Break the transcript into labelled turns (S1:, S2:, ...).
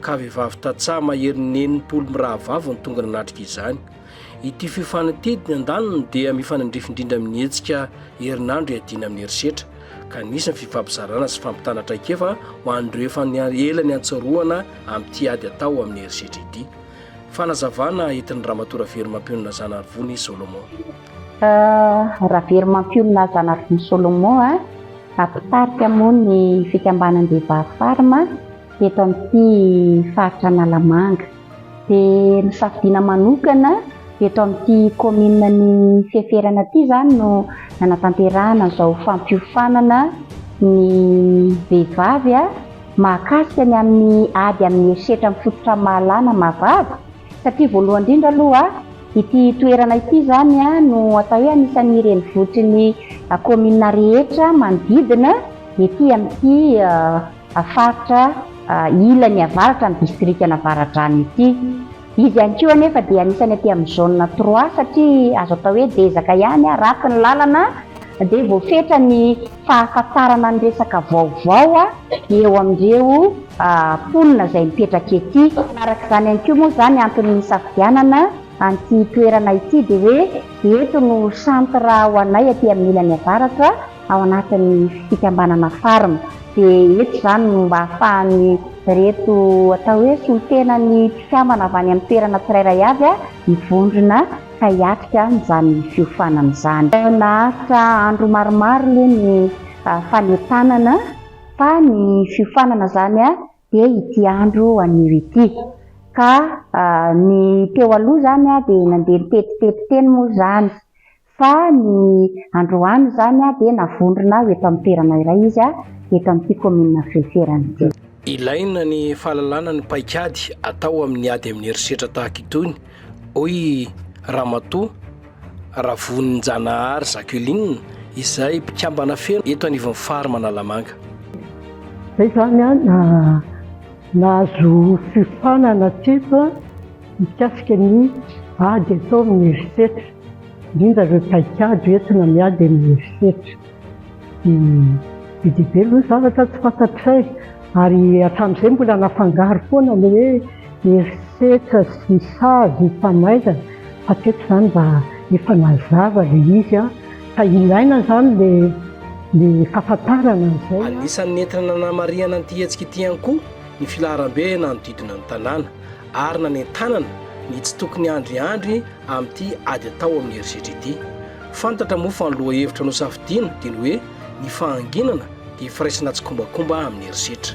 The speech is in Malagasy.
S1: ka vehivavy tantsaha maherin'ny enimpolo mirahavavy no tonga nanatrika izany. Ity feo fanatety ny andaniny dia mifanandrify indrindra amin'ny hetsika herinandro iadiana amin'ny herisetra, ka nisy ny fifampizarana sy fampitana traikefa ho an'ireo efa ela niantsarohana amin'ity ady atao amin'ny herisetra ity. Fanazavana entin'i Ramatoa Raverimampiolona Zanarivony Solomon.
S2: Raverimampiolona Zanarivony Solomon, mpitarika moa ny fikambanan-dehivahy Farm, eto amin'ity faritra Analamanga. Dia nosafidiana manokana eto amin'ity kaominina ny Feferana ity izany no nanatanterahana izao fampiofanana ny vehivavy mahakasika ny amin'ny ady amin'ny herisetra mifototra amin'ny mahalana maha-vavy satria voalohany indrindra aloha ity toerana ity izany no atao hoe anisan'ny renivohitry ny kaominina rehetra manodidina ety amin'ity faritra ilany avaratra ny distrikan'Avaradrano ity. Izy ihany koa anefa dia anisan'ny aty amin'ny zone trois satria azo atao hoe dezaka ihany, ratsy ny lalana dia voafetra ny fahafantarana ny resaka vaovao eo amin'ireo mponina izay mipetraka ety. Manaraka izany ihany koa moa izany antony nisafidianana an'ity toerana ity dia hoe eto no centre ho anay aty amin'ny ilany avaratra. ao anatin'ny fikambanana Farm dia eto izany no mba ahafahan'ireto atao hoe solontenan'ny mpikambana avy any amin'ny toerana tsirairay avy mivondrona ka hiatrika izany fiofanana izany. Naharitra andro maromaro aloha ny fanentanana fa ny fiofanana izany dia ity andro anio ity ka ny teo aloha izany dia nandeha niteti-tety teny moa izany Fa ny androany izany dia navondrona aho eto amin'ny toerana iray izy, eto amin'ity kaominina Fieferana ity. Ilaina ny
S1: fahalalana ny paikady atao amin'ny ady amin'ny herisetra tahaka itony, hoy Ramatoa Ravoninjanahary Jacqueline, izay mpikambana feno eto anivon'ny fary Manalamanga.
S3: Izay izany no nahazo fiofanana hatreto mikasika ny ady atao amin'ny herisetra. indrindra ireo paikady entina miady amin'ny herisetra. Be dia be aloha ny zavatra tsy fantatray ary hatramin'izay mbola nafangaro foana ny hoe herisetra sy ny sazy ny famaizana fa teto izany mba efa nazava ilay izy fa ilaina izany ilay ny fahafantarana an'izay. Anisan'ny nentina
S1: nanamarihana an'ity hetsika ity ihany koa ny filaharambe nanodidina ny tanàna. ary nanentanana ny tsy tokony andriandry amin'ity ady atao amin'ny herisetra ity. Fantatra moa fa ny lohahevitra nosafidiana dia ny hoe ny fahanginana dia firaisana tsikombakomba amin'ny herisetra.